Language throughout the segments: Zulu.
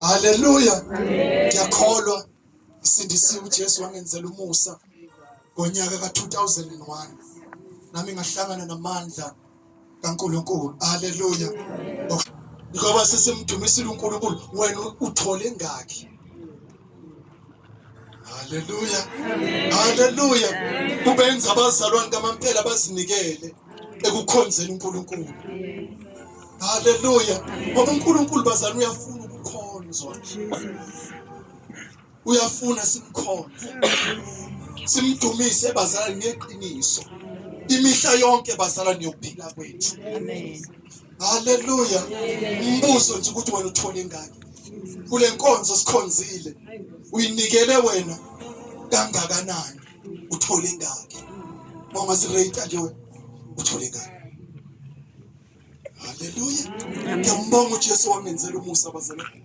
haleluya ngiyakholwa isindisiwe uJesu wangenzela umusa ngonyaka ka-2001 nami ngahlangana namandla kaNkulunkulu haleluya ngoba sesimdumisile uNkulunkulu wena uthole ngaki haleluya haleluya kubenza abazalwane kamampela bazinikele ekukhonzeni uNkulunkulu haleluya ngoba uNkulunkulu bazalwane uyafuna ukukhonzwa uyafuna simkhonze simdumise bazalwane ngeqiniso imihla yonke bazalwane yokuphila kwethu amen Haleluya. Umbuzo nje ukuthi wena uthole ingaki. Kule nkonzo sikhonzile uyinikele wena kangakanani uthole ingaki. Mama si rate nje wena uthole ingaki. Haleluya. Ngiyambonga uJesu wamenzela umusa bazalwane.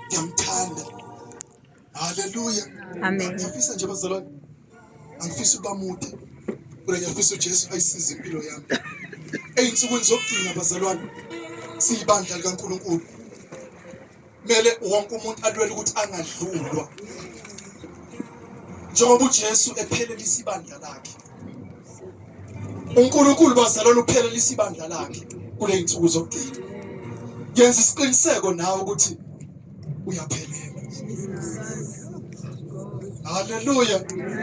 Ngiyamthanda. Haleluya. Amen. Ngiyafisa nje bazalwane. Angifisi ukuba mude. Kodwa ngiyafisa uJesu ayisize impilo yami. Eyinsukwini zokugcina bazalwane siyibandla likaNkulunkulu. Mele wonke umuntu alwele ukuthi angadlulwa. Njengoba uJesu ephelelisa ibandla lakhe. uNkulunkulu bazalwane uphelelisa ibandla lakhe kule nsuku zokugcina yenza isiqiniseko nawe ukuthi uyaphelela haleluya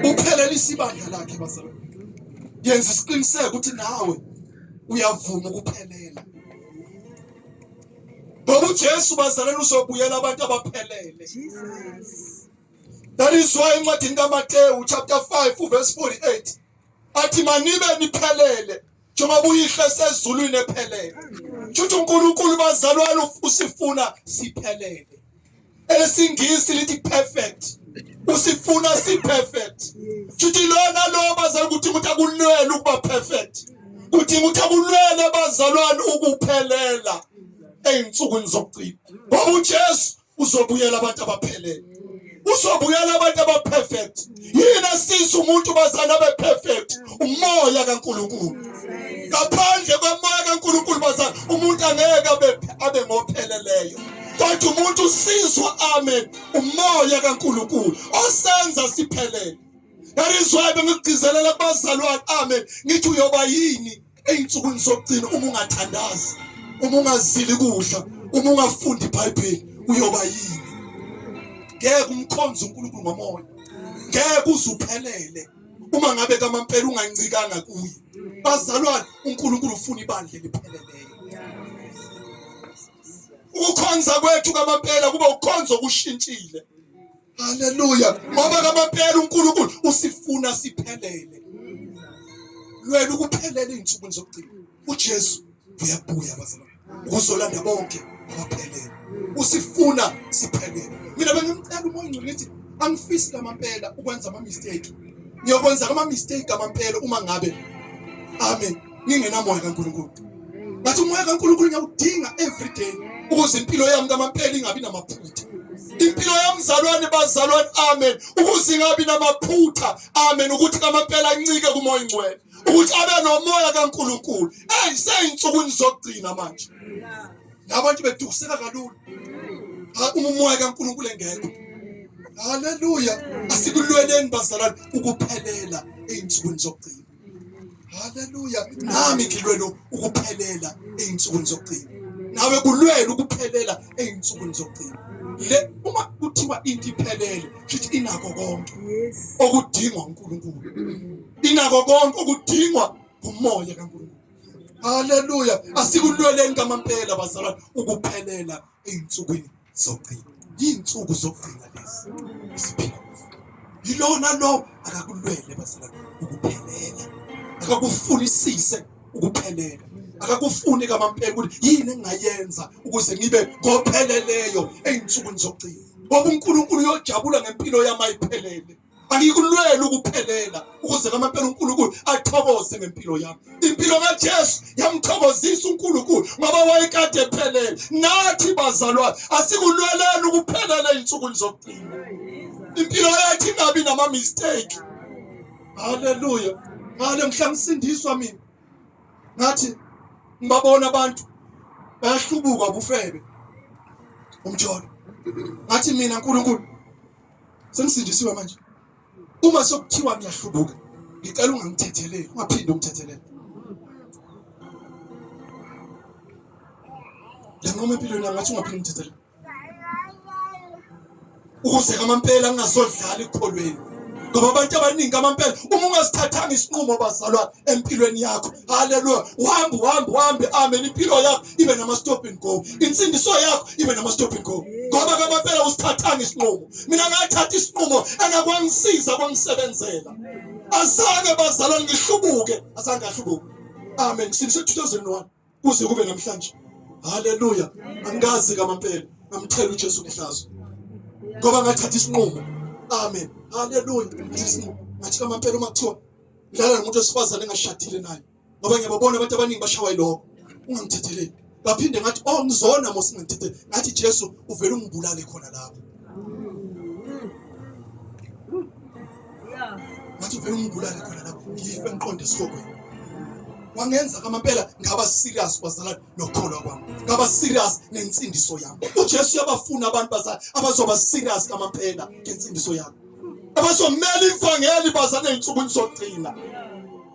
uphelelisa ibandla lakhe bazalwane yenza isiqiniseko ukuthi nawe uyavuma ukuphelela ngoba uJesu bazalwane uzobuyela abantu abaphelele That is why encwadini kaMatewu chapter 5 uverse 48 athi manibe niphelele njengoba uyihle sezulwini ephelele. Kusho uNkulunkulu bazalwane usifuna siphelele. Elesingisi lithi perfect. Usifuna si perfect. Kusho lona lo bazalwane ukuthi umuntu akulwele ukuba perfect. Kuthi ukuthi akulwele bazalwane ukuphelela ezinsukwini zokugcina. Ngoba uJesu uzobuyela abantu abaphelele uzobuyela abantu abaperfect yini esiza umuntu bazana beperfect umoya kaNkuluNkulu ngaphandle komoya kaNkuluNkulu bazana umuntu angeke abe abe ngopheleleyo kodwa umuntu usizwa amen umoya kaNkuluNkulu osenza siphelele that is why bengigcizelela kubazalwane amen ngithi uyoba yini Ey'nsukwini zokugcina uma ungathandazi, uma ungazili kudla, uma ungafundi iBhayibheli uyoba yini? Ngeke umkhonze uNkulunkulu ngomoya. Ngeke uzuphelele uma ngabe kamampela ungancikanga kuye. Bazalwane, uNkulunkulu ufuna ibandla elipheleleyo. Ukukhonza kwethu kamampela kuba ukukhonza okushintshile. Haleluya. Ngoba ngamaphela uNkulunkulu usifuna siphelele. Lwena ukuphelele izinsuku zokugcina. UJesu uyabuya bazalwane. Uzolanda bonke abaphelele. Usifuna siphelele. Mina bengimcela umoya ongcwele ngithi angifisi lamampela ukwenza ama mistake. Ngiyokwenza ama mistake amampela uma ngabe Amen. ningenamoya kaNkulunkulu but umoya kaNkulunkulu ngiyawudinga every day ukuze impilo yami kamampela ingabi namaphutha impilo yamzalwane bazalwane amen ukuze ingabi namaphutha amen ukuthi kamampela incike kumoya ingcwele ukuthi abe nomoya kaNkulunkulu hey seyinsukwini zokugcina manje nabantu bedukuseka kalula uma umoya kaNkulunkulu engekho haleluya asikulweleni bazalwane ukuphelela ezinsukwini zokugcina haleluya nami ngilwela ukuphelela ey'nsukwini zokugcina nawe kulwela ukuphelela ey'nsukwini zokugcina le uma kuthiwa into iphelele futhi inako konke okudingwa uNkulunkulu inako konke okudingwa umoya kaNkulunkulu haleluya asikulweleni kamampela bazalwane ukuphelela ey'nsukwini zokugcina iy'nsuku zokugcina lezi esiphila yilona lo akakulwele bazalwane ukuphelela akakufunisise ukuphelela akakufuni kamampela ukuthi yini engingayenza ukuze ngibe ngopheleleyo ey'nsukwini zokugcina ngoba unkulunkulu uyojabula ngempilo yami ayiphelele Angikulwela ukuphelela ukuze ngamampela uNkulunkulu athokoze ngempilo yami. Impilo kaJesu yamthokozisa uNkulunkulu ngoba wayekade ephelele. Nathi bazalwane asikulweleni ukuphelela izinsuku zokugcina. Impilo yethu ingabi nama mistake. Haleluya. Ngale mhla ngisindiswa mina. Ngathi ngibabona abantu bayahlubuka bufebe. Umjolo. Ngathi mina uNkulunkulu Sengisindisiwe manje. Uma sokuthiwa ngiyahlubuka, ngicela ungangithetheleli, ungaphinde ungithethelele. Lenqoma empilweni yami ngathi ungaphinde ungithethelele. Ukuze kamampela ngingazodlala ekukholweni. ngoba abantu abaningi amampela uma ungasithathanga isinqumo bazalwane empilweni yakho haleluya uhambe uhambe uhambe amen impilo yakho ibe nama stop and go insindiso yakho ibe nama stop and go ngoba kabaphela usithathanga isinqumo mina ngathatha isinqumo angakwangisiza kwangisebenzela azange bazalwa ngihlubuke azange ahlubuke amen since 2001 kuze kube namhlanje haleluya angazi kamampela ngamthela uJesu ngehlazo ngoba ngathatha isinqumo amen haleluya ngathi kamampela uma kuthiwa ngidlala nomuntu wesifazane engashadile naye ngoba ngiyababona abantu abaningi bashawa yiloko ungangithetheleli ngaphinde ngathi oh ngizona mose ngangithethe ngathi Jesu uvela ungibulale khona lapho ngathi uvela ungibulale khona lapho ngife ngiqonde esihokweni wangenza ngamampela ngaba serious bazalwane nokukholwa kwami ngaba serious nensindiso yami uJesu uyabafuna abantu bazalwane abazoba serious ngamampela ngensindiso yami abazomela ivangeli bazane insukwini zokugcina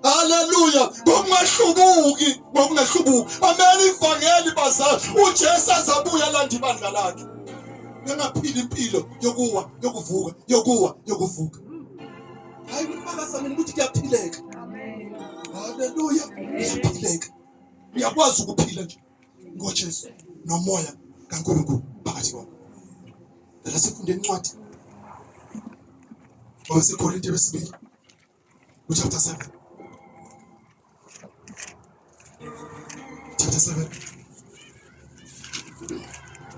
haleluya kungahlubuki ngokungahlubuki amela ivangeli bazane ujesu azabuya landa ibandla lakhe bengaphila impilo yokuwa yokuvuka yokuwa yokuvuka hayi kufakaza mina ukuthi kuyaphileka haleluya kuyaphileka uyakwazi ukuphila nje ngoJesu nomoya kaNkulunkulu phakathi kwabo. Phela sifunde incwadi waseKorinte wesibili uchapter 7 chapter 7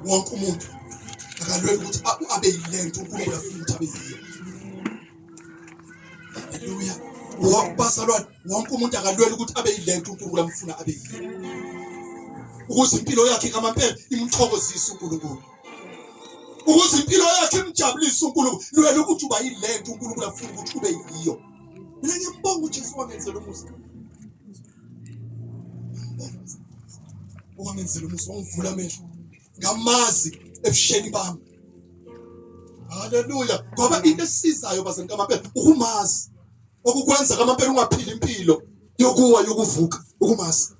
wonke umuntu akalwela ukuthi abe yilento uNkulunkulu afuna ukuthi abe yiyo haleluya bazalwane wonke umuntu akalwela ukuthi abe yilento uNkulunkulu amfuna abe yiyo ukuze impilo yakhe ngamampela imthokozise uNkulunkulu ukuze impilo yakhe imjabulise uNkulunkulu lwela ukuthi uba yilento uNkulunkulu afuna ukuthi ube yiyo mina ngiyambonga uJesu wangenzela umusa wangenzela umusa wangivula amehlo ngamazi ebusheni bami haleluya ngoba into esizayo bazali kamampela ukumazi okukwenza kamampela ungaphili impilo yokuwa yokuvuka ukumazi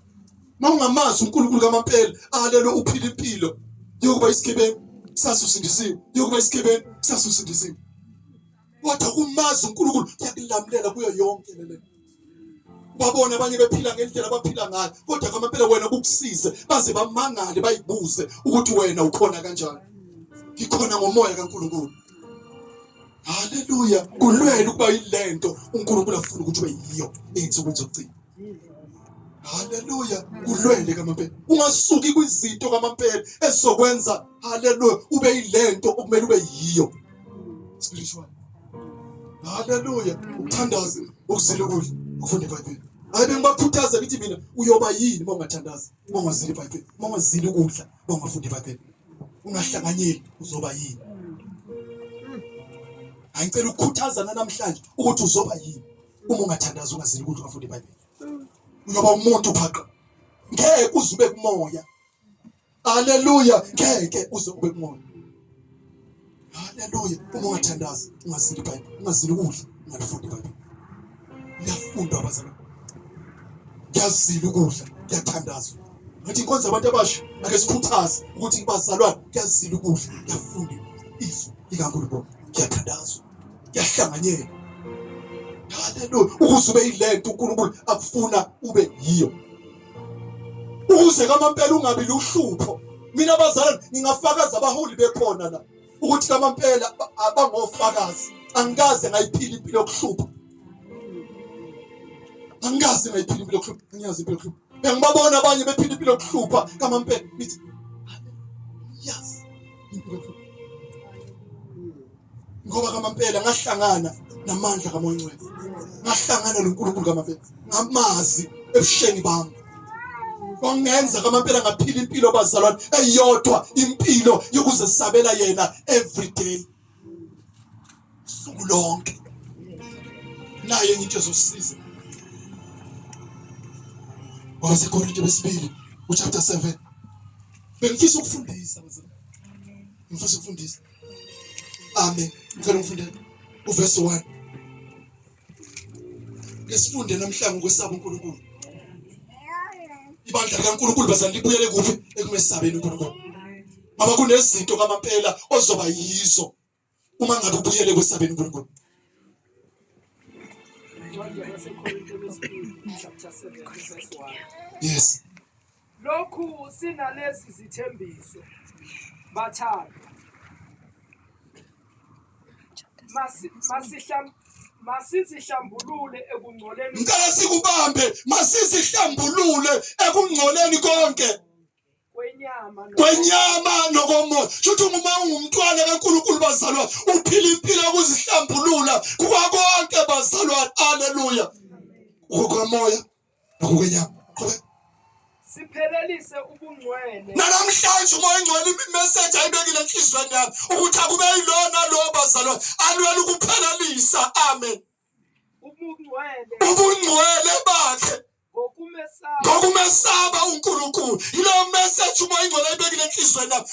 uma ungamazi unkulunkulu kamampela alelo uphila impilo yokuba isigebengu sasuzindisiwe yokuba isigebengu sasuzindisiwe kodwa umazi uNkulunkulu uyakulamlela kuyo yonke lento babone abanye bephila ngendlela abaphila ngayo kodwa kwamampela wena kukusize baze bamangale bayibuze ukuthi wena ukhona kanjani ngikhona ngomoya kaNkulunkulu haleluya kulwela ukuba yilento uNkulunkulu afuna ukuthi ube yiyo ezinsuku zokugcina haleluya kulwele kamampela ungasuki kwizinto kamampela ezokwenza haleluya ube yilento okumele ube yiyo spiritual haleluya ukuthandaza ukuzila ukudla ukufunda ibhayibheli hayi bengibakhuthaza ukuthi mina uyoba yini uma ungathandazi uma ungazili ibhayibheli uma ungazili ukudla uma ungafundi ibhayibheli ungahlanganyeli uzoba yini hayi ngicela ukukhuthazana namhlanje ukuthi uzoba yini uma ungathandazi ungazili ukudla ungafundi ibhayibheli uyoba umuntu phaqa ngeke uze ube kumoya Haleluya, ngeke uze ube kungona. Haleluya, uma ungathandazi, ungazili iBhayibheli, ungazili ukudla, ungalifundi iBhayibheli. Liyafundwa abazalwane. Ngiyazila ukudla, ngiyathandazwa. Ngathi inkonzo abantu abasha ake sikhuthaze ukuthi bazalwane kuyazila ukudla, kuyafunda izwi likaNkulunkulu, kuyathandazwa, kuyahlanganyela. Haleluya, ukuze ube yilento uNkulunkulu akufuna ube yiyo. ukuze kamampela ungabi luhlupho mina bazalwane ngingafakaza abaholi bekhona la ukuthi kamampela abangofakazi angikaze ngayiphila impilo yokuhlupha angikaze ngayiphila impilo yokuhlupha ngiyazi impilo yokuhlupha bengibabona abanye bephila impilo yokuhlupha kamampela ngithi yes impilo yokuhlupha ngoba kamampela ngahlangana namandla kamoncwele ngahlangana noNkulunkulu kamampela ngamazi ebusheni bami kwangenza kamampela ngaphila impilo bazalwane eyodwa impilo yokuzesabela yena every day suku lonke naye ngithi ezosiza wasekorinte besibili uchapter 7 bengifisa ukufundisa ngifisa ukufundisa Amen. Ngicela ungifundele uverse 1. Ngesifunde namhlanje ukwesaba uNkulunkulu. Ibandla likaNkulunkulu bazali libuyele kuphi ekumesabeni uNkulunkulu. Baba kunezinto kamampela ozoba yizo uma ngabe ubuyele kwesabeni uNkulunkulu. Yes. Lokhu sinalezi zithembiso bathanda masizihlambulule ekungcoleni ngicela sikubambe masizihlambulule ekungcoleni konke kwenyama nokomoya shuthi uma ungumntwana kaNkulunkulu bazalwane uphila impilo yokuzihlambulula kukakonke bazalwane haleluya ngokomoya siphelelise ubungcwele nanamhlanje umoya engcwele imeseji ayibekile enhliziyweni yami ukuthi akube yilona lo bazalwane alwela ukuphelelisa amen ubungcwele bakhe ngokumesaba uNkulunkulu yileyo message umoya ingcwele ayibekile enhlizweni yami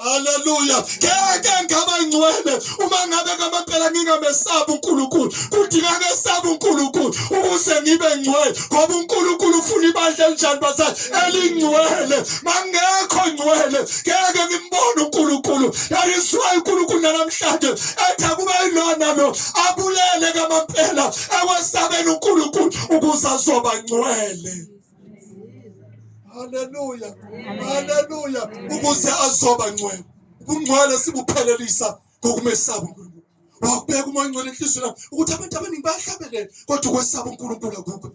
Haleluya. Ngeke ngaba ngcwele uma ngabe ngamaphela ngingamesabi uNkulunkulu. Kudinga ngesabi uNkulunkulu ukuze ngibe ngcwele ngoba uNkulunkulu ufuna ibandla elinjani bazali elingcwele. Mangekho ngcwele ngeke ngimbone uNkulunkulu. That is why uNkulunkulu namhlanje ethi akube yilona lo abulele kamaphela ewesabeni uNkulunkulu ukuze azoba ngcwele. haleluya haleluya ukuze azoba ngcwele ubungcwele sibuphelelisa ngokumesaba uNkulunkulu wakubeka umoya ongcwele enhliziyweni yami ukuthi abantu abaningi bayahlabelela kodwa ukwesaba uNkulunkulu akukho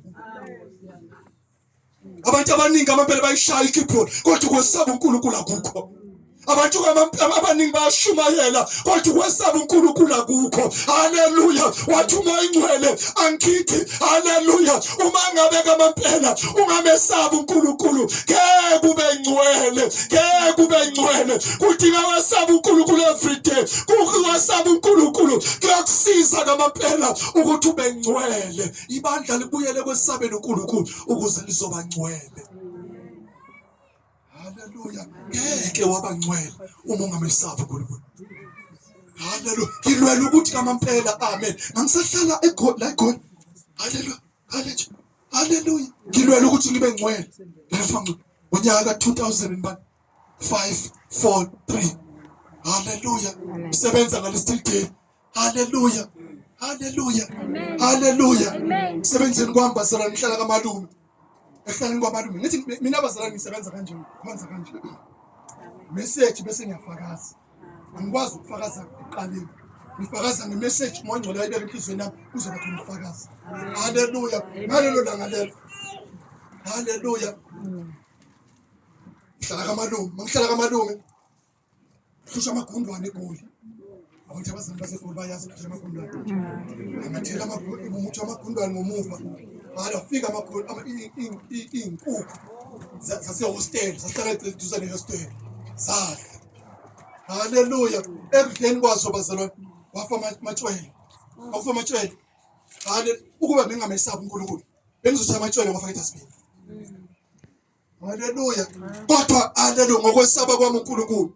abantu abaningi amabele bayishaya ikeyboard kodwa ukwesaba uNkulunkulu akukho abantu abaningi bayashumayela kodwa ukwesaba uNkulunkulu akukho haleluya wathi uma ingcwele angithi haleluya uma ngabe kamampela ungamesabi uNkulunkulu ke kube ngcwele ke kube ngcwele kudinga wasaba uNkulunkulu everyday kuwasaba uNkulunkulu kuyakusiza kamampela ukuthi ube ngcwele ibandla libuyele kwesabeni uNkulunkulu ukuze lizoba ngcwele Haleluya. Ngeke wabangcwele uma ungamesaba uNkulunkulu. Haleluya. Ngilwela ukuthi kamampela amen. Ngisahlala eGoli la eGoli. Haleluya. Haleluya. Haleluya. Ngilwela ukuthi ngibe ngcwele. Ngiyafanga unyaka 2000 bani 5 4 3. Haleluya. Sebenza ngalesithile. haleluya haleluya haleluya msebenzini kwami bazalwane ngihlala kamalume ekuhlaleni kwamalume ngithi mina bazalwane ngisebenza kanje khonza kanje message bese ngiyafakaza angikwazi ukufakaza kuqaleni ngifakaza ngemeseji mongcwele ayibeka enhliziyweni yami kuzoba khona ufakazi haleluya ngalelo langa lelo haleluya ngihlala kamalume mangihlala kamalume Kusho amagundwane egoli. Abantu abazali basegoli bayazi ukuthi amagundwane. Angathela amagundwane umuthi amagundwane ngomuva. Mara fika amagoli ama inkukhu zase hostel sahlala eduze ne hostel. Sadla. Haleluya. Ekudleni kwazo bazalwane wafa matshwele. Wafa matshwele. Hale ukuba bengamesabi uNkulunkulu. Bengizothi amatshwele wafa etasibini. Haleluya. Kodwa haleluya ngokwesaba kwami uNkulunkulu.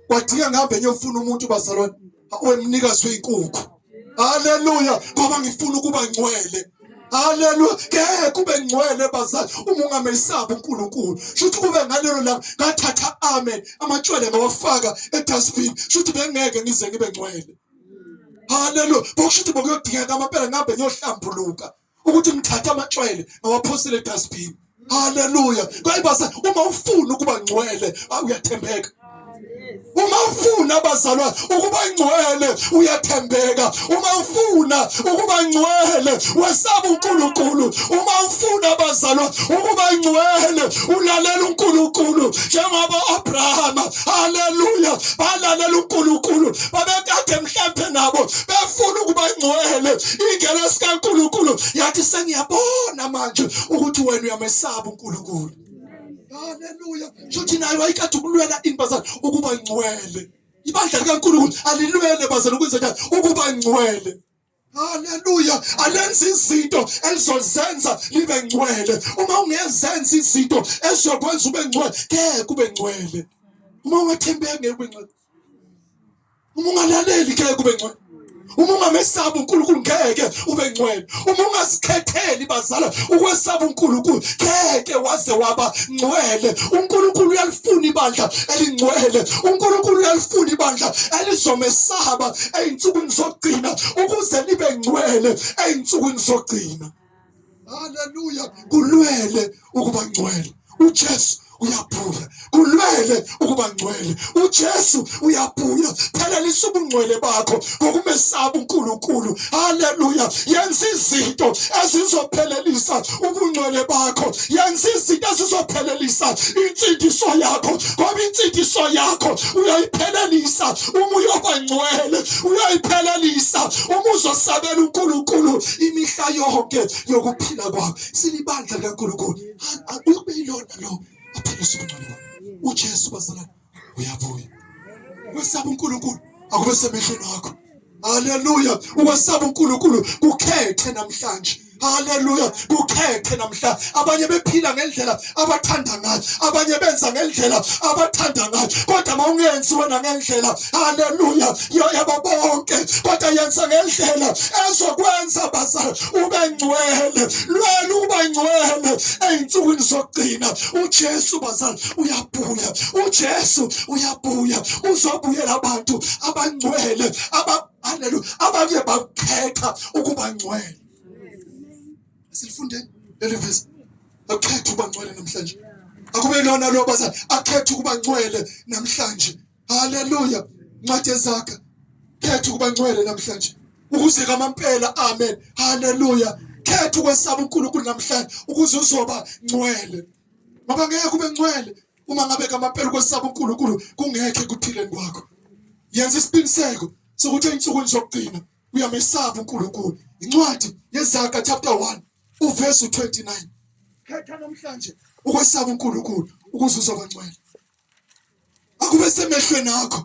Kwadinga ngihambe ngiyofuna umuntu bazalwane wemnikazi wezinkukhu. Haleluya ngoba ngifuna ukuba ngcwele. Haleluya. Ngeke kube ngcwele bazali uma ungamesabi uNkulunkulu. Shuthi kube ngalelo la ngathatha amen amatshwele ngawafaka edustbin. Shuthi bengeke ngize ngibe ngcwele. Haleluya. Bokushuthi bokuyodingeka amaphela ngihambe ngiyohlambuluka. ukuthi ngithatha amatshwele ngawaphosele edustbin haleluya kwayibase uma ufuna ukuba ngcwele ah, uyathembeka uma ufuna abazalwane ukuba ngcwele uyathembeka uma ufuna ukuba ngcwele wesaba uNkulunkulu uma ufuna abazalwane ukuba ngcwele ulalela uNkulunkulu njengoba uAbrahama haleluya balalela unkulunkulu babekade mhlampe nabo befuna ukuba ngcwele ingelo sikankulunkulu yathi sengiyabona manje ukuthi wena uyamesaba unkulunkulu haleluya shuthi nayo ayikade ukulwela inbazana ukuba ngcwele ibandla likankulunkulu alilwele bazana ukwenzekani ukuba ngcwele Haleluya. Alenza izinto elizozenza libe ngcwele. Uma ungezenza izinto ezokwenza ube ngcwele, ke kube ngcwele. Uma ungathembeki ngeke ube ngcwele. Uma ungalaleli ke kube ngcwele. Uma ungamesabi uNkulunkulu ngeke ube ngcwele. Uma ungazikhetheli bazala ukwesaba uNkulunkulu ngeke waze waba ngcwele. UNkulunkulu uyalifuna ibandla elingcwele. UNkulunkulu uyalifuna ibandla elizomesaba ezinsukwini zokugcina ukuze nibe ngcwele ey'nsukwini zokugcina haleluya kulwele ukuba ngcwele ujesu uyabuya kulwele ukuba ngcwele ujesu uyabuya phelelisa ubungcwele bakho ngokumesaba unkulunkulu haleluya yenza izinto ezizophelelisa ubungcwele bakho yenza izinto ezizophelelisa insindiso yakho ngoba insindiso yakho uyoyiphelelisa uma uyoba ngcwele uyoyiphelelisa uma uzosabela uNkulunkulu imihla yonke yokuphila kwakho silibandla likaNkulunkulu uyokube yilona lo aphela usubungcwele uJesu bazalwane uyabuya ukwesaba uNkulunkulu akube semehlweni akho haleluya ukwesaba uNkulunkulu kukhethe namhlanje Haleluya kukhethe namhla abanye bephila ngendlela abathanda ngayo abanye benza ngendlela abathanda ngayo kodwa mawungenzi wena ngendlela haleluya yoyaba bonke kodwa yenza ngendlela ezokwenza bazali ube ngcwele lwela ukuba ngcwele ezinsukwini zokugcina uJesu bazali uya uyabuya uJesu uyabuya uzobuyela abantu abangcwele aba haleluya abanye bakhetha ukuba ngcwele silifundeni leli verse akhetha ukuba ngcwele namhlanje akube lona lo bazali akhetha ukuba ngcwele namhlanje haleluya ncwadi ezakha khetha ukuba ngcwele namhlanje ukuze kamampela amen haleluya khetha ukwesaba uNkulunkulu namhlanje ukuze uzoba ngcwele ngoba ngeke ube ngcwele uma ngabe ngamampela ukwesaba uNkulunkulu kungekhe kuphileni kwakho yenza isiqiniseko sokuthi ensukwini zokugcina uyamesaba uNkulunkulu incwadi yezaga chapter 1 uverse 29 khetha namhlanje ukwesaba uNkulunkulu ukuze uzobangcwele akube semehlweni akho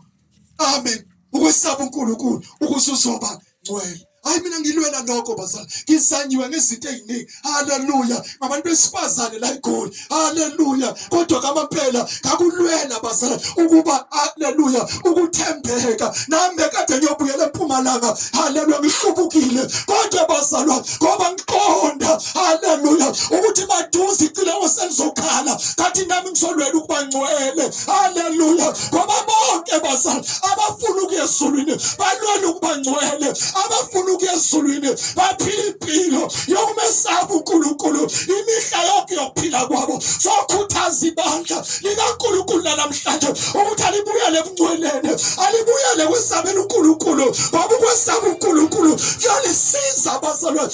amen ukwesaba uNkulunkulu ukuze uzoba ngcwele hayi mina ngilwela lokho bazali ngizanyiwe ngezinto eziningi haleluya ngabantu besifazane la igoli haleluya kodwa kamaphela ngakulwela bazali ukuba haleluya ukuthembeka nami kade ngiyobuyela empumalanga haleluya ngihlubukile kodwa bazalwa ngoba ngiqonda haleluya ukuthi maduze icilongo selizokhala kathi nami ngizolwela ukuba ngcwele haleluya ngoba bonke bazali abafuna ukuya ezulwini balwela ukuba ngcwele abafuna ukuya ezulwini baphila impilo yokumesaba unkulunkulu imihla yonke yokuphila kwabo sokhuthaza ibandla likankulunkulu nanamhlanje ukuthi alibuyele ebungcweleni alibuyele kwesabela unkulunkulu ngoba ukwesaba unkulunkulu kuyalisiza abazalwane